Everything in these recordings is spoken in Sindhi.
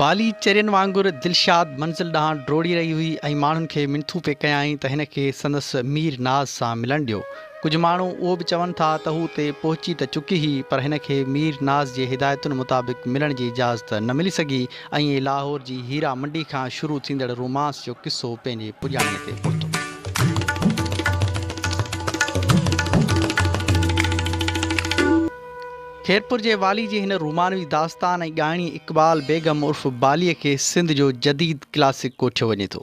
بالي چرين وانگر دلشاد منزل ڏانهن ڊوڙي رهي هئي ۽ ماڻهن کي منٿون پئي ڪيائين ته هن کي سندس مير ناز سان ملڻ ڏيو. ڪجهه ماڻهو اهو به چون ٿا ته هو اتي پهچي ته چڪي هئي پر هن کي مير ناز جي هدايتن مطابق ملڻ جي اجازت نه ملي سگهي ائين لاهور جي هيرا منڊي کان شروع ٿيندڙ رومانس جو قصو پنهنجي پڄاڻي تي پهتو. خيرپور جي والي جي هن رومانوي داستان ۽ ڳائڻي اقبال بيگم عرف باليء کي سنڌ جو جديد ڪلاسڪ ڪوٺيو وڃي ٿو.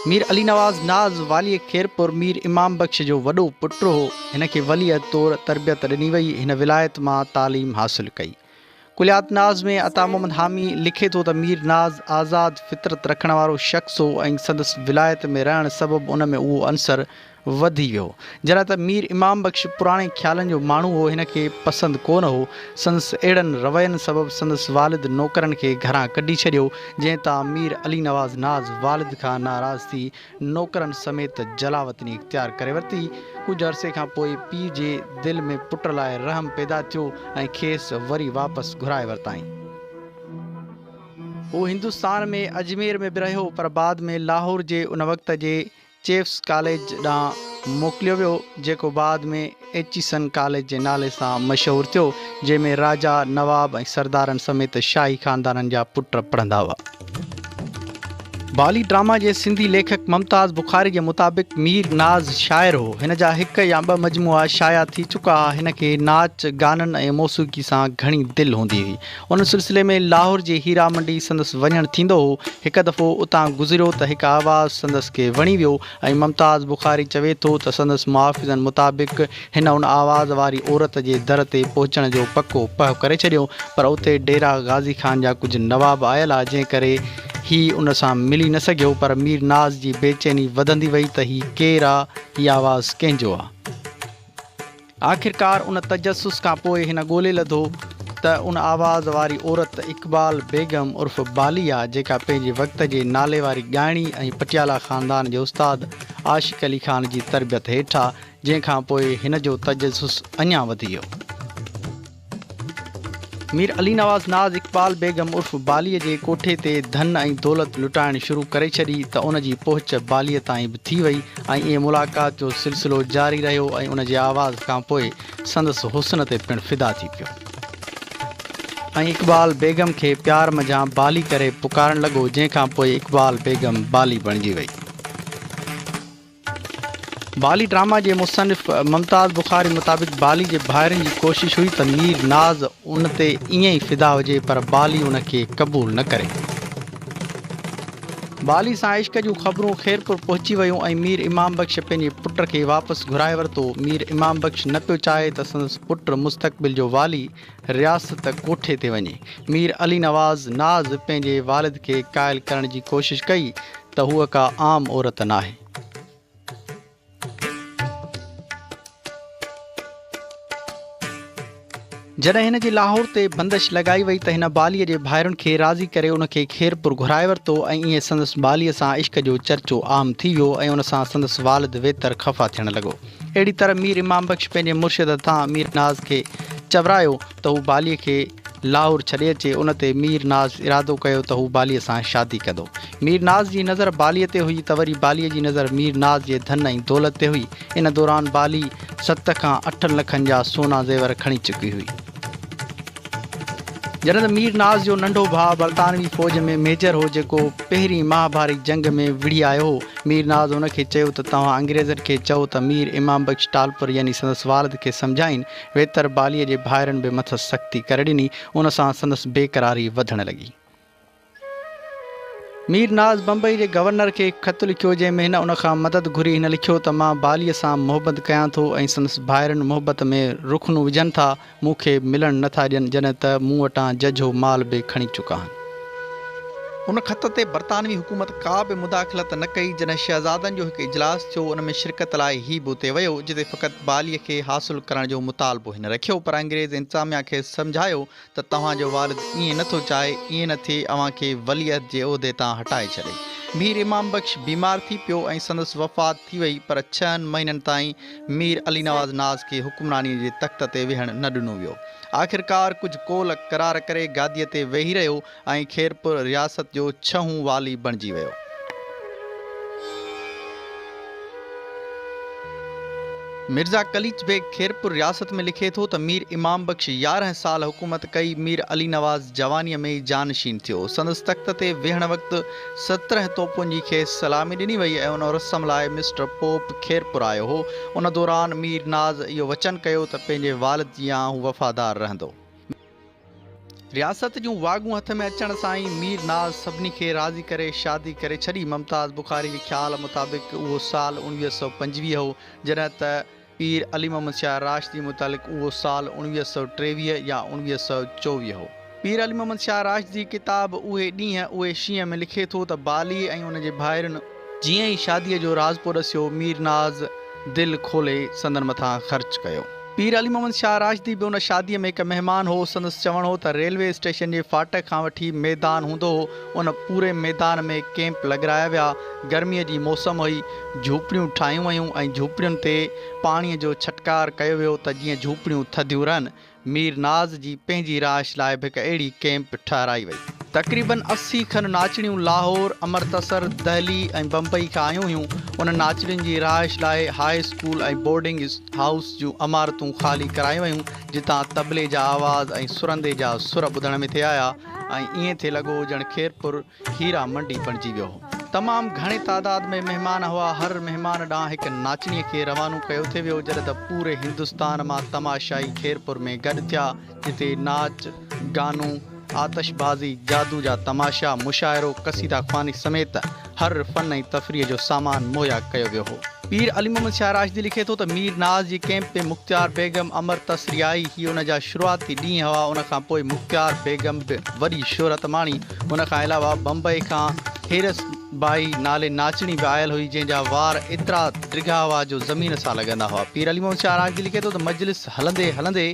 مير علي نواز ناز واليء خيرپور مير امام بخش جو وڏو پٽ هو. هن کي ولي عهد طور تربيت ڏني وئي. هن ولايت مان تعليم حاصل ڪئي. ڪليات ناز ۾ عطا محمد حامي لکي ٿو ته مير ناز آزاد فطرت رکڻ وارو شخص هو ۽ سندس ولايت ۾ رهڻ سبب ان ۾ اهو عنصر وڌي ويو. جڏهن ته مير امام بخش پراڻي خيالن جو ماڻهو هو، هن کي پسند ڪو نه هو. سندس اهڙن روين سبب سندس والد نوڪرن کي گهران ڪڍي ڇڏيو، جنهن تان مير علي نواز ناز والد کان ناراض ٿي نوڪرن سميت جلاوطني اختيار ڪري ورتي. ڪجهه عرصي کان پوء پيء جي دل ۾ پٽ لاء رحم پيدا ٿيو ۽ کيس وري واپس گهرائي ورتائين. هو هندستان ۾ اجمير ۾ به رهيو پر بعد ۾ لاهور جي ان وقت جي چيفس ڪاليج ڏانهن موڪليو ويو، جيڪو بعد ۾ ايچيسن ڪاليج جي نالي سان مشهور ٿيو، جنهن ۾ راجا، نواب ۽ سردارن سميت شاهي خاندانن جا پٽ پڙهندا هئا. بالي ڊراما جي سنڌي ليکڪ ممتاز بخاري جي مطابق مير ناز شاعر هو. هن جا هڪ يا ٻه مجموعا شايع ٿي چڪا ها. هن کي ناچ گانن ۽ موسيقي سان گهڻي دل هوندي هئي. ان سلسلي ۾ لاهور جي هيرا منڊي سندس وڃڻ ٿيندو هو. هڪ دفعو اتان گذريو ته هڪ آواز سندس کي وڻي ويو ۽ ممتاز بخاري چوي ٿو ته سندس محافظن مطابق هن ان آواز واري عورت جي در تي پهچڻ جو پڪو پهه ڪري ڇڏيو پر اتي ڊيرا غازي خان جا ڪجهه نواب آيل ها جنهن ڪري هي ان سان ملي نه سگهيو پر مير ناز جي بيچيني وڌندي وئي ته هي ڪير آ؟ هي آواز ڪنهن جو آ؟ آخرڪار ان تجسس کان پوء هن ڳولي لڌو ته ان آواز واري عورت اقبال بيگم عرف بالي آ جيڪا پنهنجي وقت جي نالي واري ڳائڻي ۽ پٽيالا خاندان جي استاد عاشق علي خان جي تربيت هيٺ آ جنهن کان پوء هن جو تجسس اڃان وڌيو. مير علي نواز ناز اقبال بيگم عرف باليء جي ڪوٺي تي ڌن ۽ دولت لٽائڻ شروع ڪري ڇڏي ته ان جي پهچ باليء تائين به ٿي وئي ۽ ائين ملاقات جو سلسلو جاري رهيو ۽ ان جي آواز کانپوء سندس حسن تي پڻ فدا ٿي پيو ۽ اقبال بيگم کي پيار منجهان بالي ڪري پڪارڻ لڳو جنهن کانپوء اقبال بيگم بالي بڻجي وئي. بالي ڊراما جي مصنف ممتاز بخاري مطابق بالي جي ڀائرن جي ڪوشش هئي ته مير ناز ان تي ائين ئي فدا هجي پر بالي ان کي قبول نه ڪري. بالي سان عشق جون خبرون خيرپور پهچي ويون ۽ مير امام بخش پنهنجي پٽ کي واپس گهرائي ورتو. مير امام بخش نه پيو چاهي ته سندس پٽ مستقبل جو والي رياست ڪوٺي تي وڃي مير علي نواز ناز پنهنجي والد کي قائل ڪرڻ جي ڪوشش ڪئي ته هوء ڪا عام عورت ناهي. جڏهن هن جي لاهور تي بندش لڳائي وئي ته هن باليء جي ڀائرن کي راضي ڪري ان کي خيرپور گهرائي ورتو ۽ ائين سندس باليء سان عشق جو چرچو عام ٿي ويو ۽ ان سان سندس والد ويتر خفا ٿيڻ لڳو. اهڙي طرح مير امام بخش پنهنجي مرشد تان مير ناز کي چورايو ته هو باليء کي لاهور ڇڏي اچي، ان تي مير ناز ارادو ڪيو ته هو باليء سان شادي ڪندو. مير ناز جي نظر باليء تي هئي ته وري باليء جي نظر مير ناز جي ڌن ۽ دولت تي هئي، ان دوران بالي ست کان اٺن لکن جا سونا زيور کڻي چڪي هئي. جڏهن ته مير ناز جو ننڍو ڀاء برطانوي فوج ۾ ميجر هو جيڪو پهرين مهاڀارت جنگ ۾ وڙهي آيو هو. مير ناز هن کي چيو ته توهان انگريزن کي چئو ته مير امام بخش ٽالپر يعني سندس والد کي سمجهائين. ويتر باليء جي ڀائرن به مٿس سختي ڪري ڏني. ان سان سندس بيقراري وڌڻ لڳي. مير ناز بمبئي جي گورنر کي خط لکيو جنهن ۾ هن ان کان مدد گهري هن لکيو ته مان باليء سان محبت ڪيان ٿو ۽ سندس ڀائرن محبت ۾ رخنو وجهن ٿا مون کي ملڻ نه ٿا ڏين جڏهن ته مون وٽان ججهو مال به کڻي چڪا آهن. ان خط تي برطانوي حڪومت ڪا به مداخلت نه ڪئي جڏهن شهزادن جو هڪ اجلاس ٿيو ان ۾ شرڪت لاء هي به اتي ويو جتي فقط باليء کي حاصل ڪرڻ جو مطالبو هن رکيو پر انگريز انتظاميا کيس سمجهايو ته توهان جو والد ائين نه ٿو چاهي، ائين نه ٿئي اوهان کي وليعهد جي عهدي تان هٽائي ڇڏي. مير امام بخش بيمار ٿي پيو ۽ سندس وفات ٿي وئي پر ڇهن مهينن تائين مير علي نواز ناز کي حڪمرانيء جي تخت تي ويهڻ نه ڏنو ويو. آخرڪار ڪجهه قول قرار ڪري گاديء تي ويهي رهيو ۽ خيرپور رياست جو ڇهون والي بڻجي ويو. مرزا قليچ بيگ خيرپور رياست ۾ لکي ٿو ته مير امام بخش يارهن سال حڪومت ڪئي، مير علي نواز جوانيء ۾ ئي جانشين ٿيو. سندس تخت تي ويهڻ وقت سترهن توپن جي کيس سلامي ڏني وئي ۽ ان رسم لاء مسٽر پوپ خيرپور آيو هو. ان دوران مير ناز اهو وچن ڪيو ته پنهنجي والد جيان هو وفادار رهندو. رياست جون واڳون هٿ ۾ اچڻ سان ئي مير ناز سڀني کي راضي ڪري شادي ڪري ڇڏي. ممتاز بخاري جي خيال مطابق اهو سال اڻويهه سؤ پنجويهه هو، جڏهن ته پير علي محمد شاهه راشدي متعلق اهو سال اڻويهه سؤ ٽيويهه يا اڻويهه سؤ چوويهه هو. پير علي محمد شاهه راشدي ڪتاب اهي ڏينهن، اهي شينهن ۾ لکي ٿو ته بالي ۽ ان جي ڀائرن، جيئن ئي شاديء جو راز پئو ڏسيو، مير ناز دل کولي سندن مٿان خرچ ڪيو. پير علي محمد شاهه راشدي به ان شاديء ۾ هڪ مهمان هو. سندس چوڻ هو ته ريلوي اسٽيشن جي ڦاٽڪ کان وٺي ميدان هوندو هو، ان پوري ميدان ۾ ڪيمپ لڳرايا ويا. گرميء جي موسم هئي، جهوپڙيون ٺاهيون ويون ۽ جهوپڙين تي پاڻيء جو ڇٽڪار ڪيو ويو ته جيئن جهوپڙيون ٿڌيون رهن. مير ناز جي پنهنجي رهائش لاء به هڪ اهڙي ڪئمپ ٺهرائي وئي. تقريباً اسي کن ناچڻيون لاهور، امرتسر، دهلي ۽ بمبئي کان آيون هيون. انهن ناچڻين جي رهائش لاء هاء اسڪول ۽ بورڊنگ هائوس جون عمارتون خالي ڪرايون ويون، جتان طبلي جا آواز ۽ سرندي جا سر ٻڌڻ ۾ ٿي آيا ۽ ائين ٿي لڳو ڄڻ خيرپور هيرا منڊي بڻجي ويو هو. تمام گهڻي تعداد ۾ مهمان هئا. هر مهمان ڏانهن هڪ ناچڻي کي روانو ڪيو ٿي ويو. جڏهن ته پوري هندستان مان تماشائي خيرپور ۾ گڏ ٿيا، جتي ناچ، گانو، آتش بازي، جادو جا تماشا، مشاعرو، قصيده خواني سميت هر فن ۽ تفريح جو سامان مهيا ڪيو ويو هو. پير علي محمد شاهه راشدي لکي ٿو ته مير ناز جي ڪئمپ ۾ مختيار بيگم امر تسري آئي. هي ان جا شروعاتي ڏينهن هئا. ان کان پوء مختيار بيگم به وڏي شهرت ماڻي. ان کان علاوه بمبئي کان هيرس بائي نالي ناچڻي به آيل هئي، جنهن جا وار ايترا ڊگها هئا جو زمين سان لڳندا هئا. پير علي محمد شاهه راڳجي لکي ٿو ته مجلس هلندي هلندي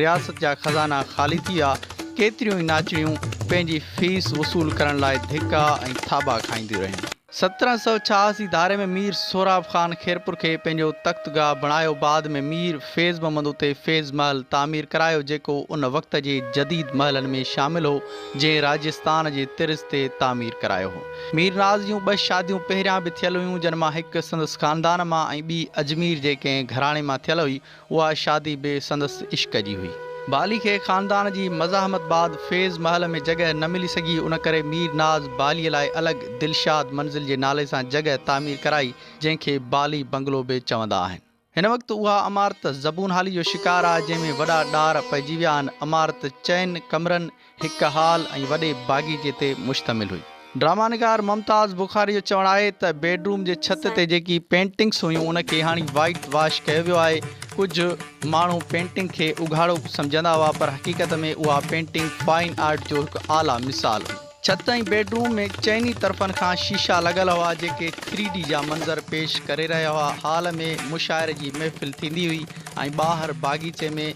رياست جا خزانا خالي ٿي ويا، ڪيتريون ئي ناچڻيون پنهنجي فيس وصول ڪرڻ لاء ڌڪا ۽ ٿاٻا کائينديون رهيون. سترهن سؤ ڇهاس جي ڌاري ۾ مير سهراب خان خيرپور کي پنهنجو تخت گاهه بڻايو بعد ۾ مير فيض محمد اتي فيض محل تعمير ڪرايو جيڪو ان وقت جي جديد محلن ۾ شامل هو جنهن راجستان جي طرز تي تعمير ڪرايو هو مير ناز جون ٻه شاديون پهريان به ٿيل هيون جن مان هڪ سندس خاندان مان ۽ ٻي اجمير جي ڪنهن گهراڻي مان ٿيل هئي اها شادي به سندس عشق جي هئي. بالي کي خاندان جي مزاحمت بعد فيض محل ۾ جڳهه نه ملي سگهي، ان ڪري مير ناز بالي لاء الڳ دلشاد منزل جي نالي سان جڳهه تعمير ڪرائي، جنهن کي بالي بنگلو به چوندا آهن. هن وقت اها عمارت زبونحالي جو شڪار آهي، جنهن ۾ وڏا ڏار پئجي ويا آهن. عمارت چئن ڪمرن هڪ هال ۽ وڏي باغيچي تي مشتمل هئي. ڊرامه نگار ممتاز بخاري جو چوڻ آهي ته بيڊروم جي ڇت تي جيڪي پينٽنگس هيون ان کي هاڻي وائيٽ واش ڪيو ويو آهي، ڪجهه ماڻهو پينٽنگ کي اگهاڙو سمجهندا هئا پر حقيقت ۾ اها پينٽنگ فائن آرٽ جو هڪ اعليٰ مثال هئي. ڇت ۽ بيڊروم ۾ چئني طرفن کان شيشا لڳل هئا جيڪي ٿري ڊي جا منظر پيش ڪري رهيا هئا، هال ۾ مشاعري جي محفل ٿيندي هئي ۽ ٻاهر باغيچي ۾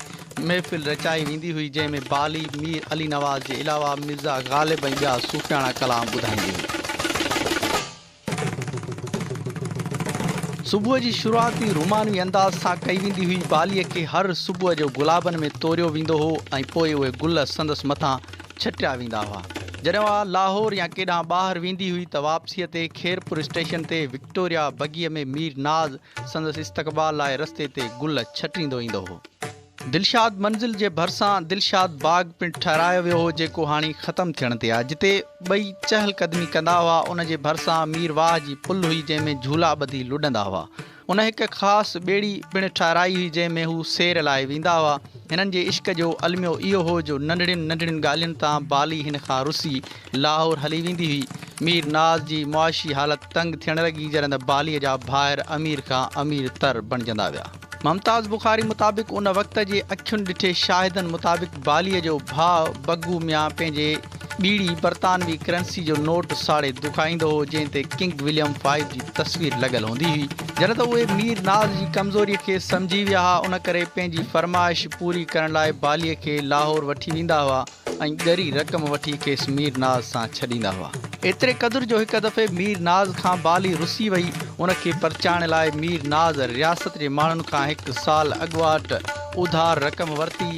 محفل رچائي ويندي هئي جنهن ۾ بالي مير علي نواز جي علاوه مرزا غالب ۽ ٻيا صوفياڻا ڪلام ٻڌائيندي هئي. صبح جي شروعات به رومانوي انداز سان ڪئي ويندي هئي، باليء کي هر صبح جو گلابن ۾ توريو ويندو هو ۽ پوء اهي گل سندس مٿان ڇٽيا ويندا هئا. جڏهن اها لاهور يا ڪيڏانهن ٻاهر ويندي هئي ته واپسيء تي خيرپور اسٽيشن تي وڪٽوريا بگيء ۾ مير ناز سندس استقبال لاء رستي تي گل ڇٽيندو ايندو هو. دلشاد منزل جي ڀرسان دلشاد باغ پڻ ٺهرايو ويو هو جيڪو هاڻي ختم ٿيڻ تي آهي جتي ٻئي چهل قدمي ڪندا هئا ان جي ڀرسان مير واهه جي پل هئي جنهن ۾ جهولا ٻڌي لڏندا هئا ان هڪ خاص ٻيڙي پڻ ٺهرائي هئي جنهن ۾ هو سير لاء ويندا هئا هنن جي عشق جو الميو اهو هو جو ننڍڙين ننڍڙين ڳالهين تان بالي هن کان رسي لاهور هلي ويندي هئي مير ناز جي معاشي حالت تنگ ٿيڻ لڳي جڏهن ته بالي جا ڀائر امير کان امير تر بڻجندا ويا. ممتاز بخاري مطابق ان وقت جي اکين ڏٺي شاهدن مطابق باليء جو ڀاء بگو ميان پنهنجي ٻيڙي برطانوي ڪرنسي جو نوٽ ساڙي دکائيندو هو جنهن تي ڪنگ وليم فائيو جي تصوير لڳل هوندي هئي جڏهن ته اهي مير ناز جي ڪمزوريء کي سمجهي ويا ها ان ڪري پنهنجي فرمائش پوري ڪرڻ لاء باليء کي لاهور وٺي ويندا هئا. ۽ ڳري رقم وٺي کيس مير ناز سان ڇڏيندا هئا. ايتري قدر جو هڪ دفعي مير ناز کان بالي رسي وئي، ان کي پرچائڻ لاء مير ناز رياست جي ماڻهن کان هڪ سال اڳواٽ اوڌار رقم ورتي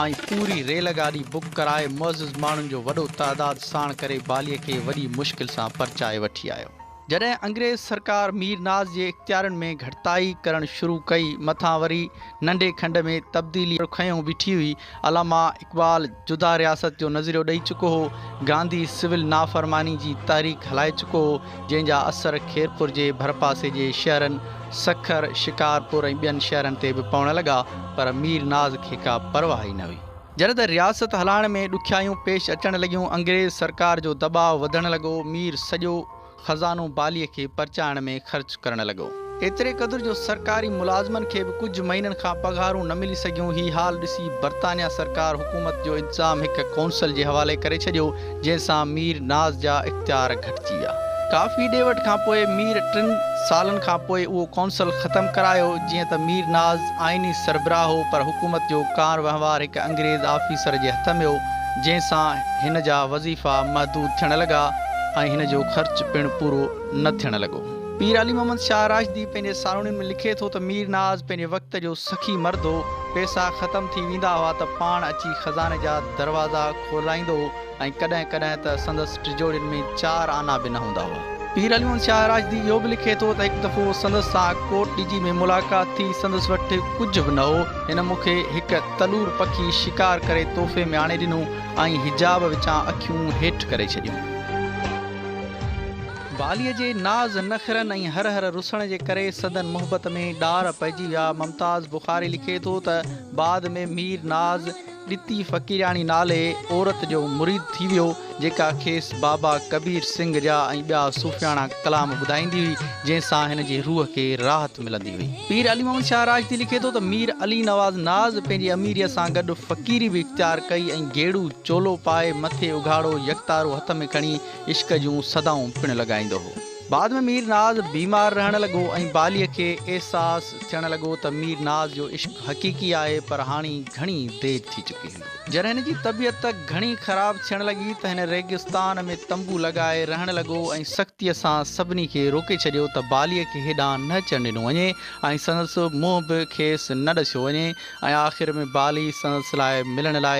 ۽ پوري ريل گاڏي بڪ ڪرائي معزز ماڻهن جو وڏو تعداد ساڻ ڪري بالي کي وڏي مشڪل سان پرچائي وٺي آيو. جڏهن انگريز سرڪار مير ناز جي اختيارن ۾ گهٽتائي ڪرڻ شروع ڪئي، مٿان وري ننڍي کنڊ ۾ تبديلي کنيون بيٺي هئي. علامه اقبال جدا رياست جو نظريو ڏئي چڪو هو، گانڌي سول نافرماني جي تحريڪ هلائي چڪو هو، جنهن جا اثر خيرپور جي ڀرپاسي جي شهرن سکر، شڪارپور ۽ ٻين شهرن تي به پوڻ لڳا، پر مير ناز کي ڪا پرواهه ئي نه هئي. جڏهن ته رياست هلائڻ ۾ ڏکيائيون پيش اچڻ لڳيون، انگريز سرڪار جو دٻاء وڌڻ لڳو، مير سڄو خزانو باليء کي پرچائڻ ۾ خرچ ڪرڻ لڳو. ايتري قدر جو سرڪاري ملازمن کي به ڪجهه مهينن کان پگهارون نه ملي سگهيون، هي حال ڏسي برطانيا سرڪار حڪومت جو انتظام هڪ قونصل جي حوالي ڪري ڇڏيو، جنهن سان مير ناز جا اختيار گهٽجي ويا. ڪافي ڏي وٺ کان پوء مير ٽن سالن کان پوء اهو ڪونسل ختم ڪرايو، جيئن ته مير ناز آئيني سربراهه هو پر حڪومت جو ڪار وهنوار هڪ انگريز آفيسر جي هٿ ۾ هو، جنهن سان هن جا وظيفا محدود ٿيڻ لڳا ۽ هن جو خرچ پڻ پورو نه ٿيڻ لڳو. پير علي محمد شاهه راشدي پنهنجي سالوڻين ۾ لکي ٿو ته مير ناز پنهنجي وقت جو سخي مرد هو، پيسا ختم ٿي ويندا هئا ته پاڻ اچي خزاني جا دروازا ڦرلائيندو هو ۽ ڪڏهن ڪڏهن ته سندس ٽجوڙين ۾ چار آنا به نه هوندا هئا. پير علي محمد شاهه راشدي اهو به لکي ٿو ته هڪ دفعو سندس سان ڪوٽ ڏجي ۾ ملاقات ٿي، سندس وٽ ڪجهه به نه هو، هن مون کي هڪ تلور پکي شڪار ڪري تحفي ۾ آڻي ڏنو ۽ حجاب وچان اکيون هيٺ ڪري ڇڏيون. واليء جي ناز نخرن ۽ هر هر رسڻ جي ڪري سندن محبت ۾ ڏار پئجي ويا. ممتاز بخاري لکي ٿو ته بعد ۾ مير ناز، ڏتي فقيراڻي نالي عورت جو مريد ٿي ويو، جيڪا کيس بابا ڪبير سنگهه جا ۽ ٻيا صوفياڻا ڪلام ٻڌائيندي هئي، جنهن سان هن جي روح کي راحت ملندي هئي. پير علي محمد شاهه راشدي لکي ٿو ته مير علي نواز ناز پنهنجي اميريء سان گڏ فقيري به اختيار ڪئي ۽ گيڙو چولو پائي مٿي اگهاڙو يڪتارو هٿ ۾ کڻي عشق جون صدائون پڻ لڳائيندو هو. بعد ۾ مير ناز بيمار رهڻ لڳو ۽ باليء کي احساس ٿيڻ لڳو ته مير ناز جو عشق حقيقي آهي پر هاڻي گهڻي دير ٿي چڪي هوندي. جڏهن هن جي طبيعت گهڻي خراب ٿيڻ لڳي ته هن ريگستان ۾ تنبو لڳائي رهڻ لڳو ۽ سختيء سان سڀني کي روڪي ڇڏيو ته باليء کي هيڏانهن نه اچڻ ڏنو وڃي ۽ سندس منهن به کيس نه ڏسيو وڃي ۽ آخر ۾ بالي سندس لاء ملڻ لاء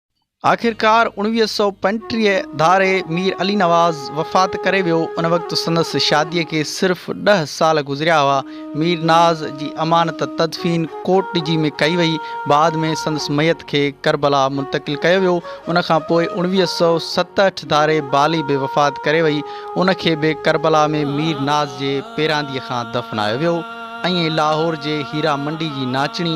آخرڪار اوڻويهه سؤ پنجٽيهه ڌاري مير علي نواز وفات ڪري ويو، ان وقت سندس شاديء کي صرف ڏهه سال گذريا هئا. مير ناز جي امانت تدفين ڪوٽ ڊجي ۾ ڪئي وئي، بعد ۾ سندس ميت کي ڪربلا منتقل ڪيو ويو، ان کان پوء اوڻويهه سؤ ستهٺ ڌاري بالي به وفات ڪري وئي، ان کي به ڪربلا ۾ مير ناز جي پيرانديء کان دفنايو ويو ۽ لاهور جي هيرا منڊي جي ناچڻي،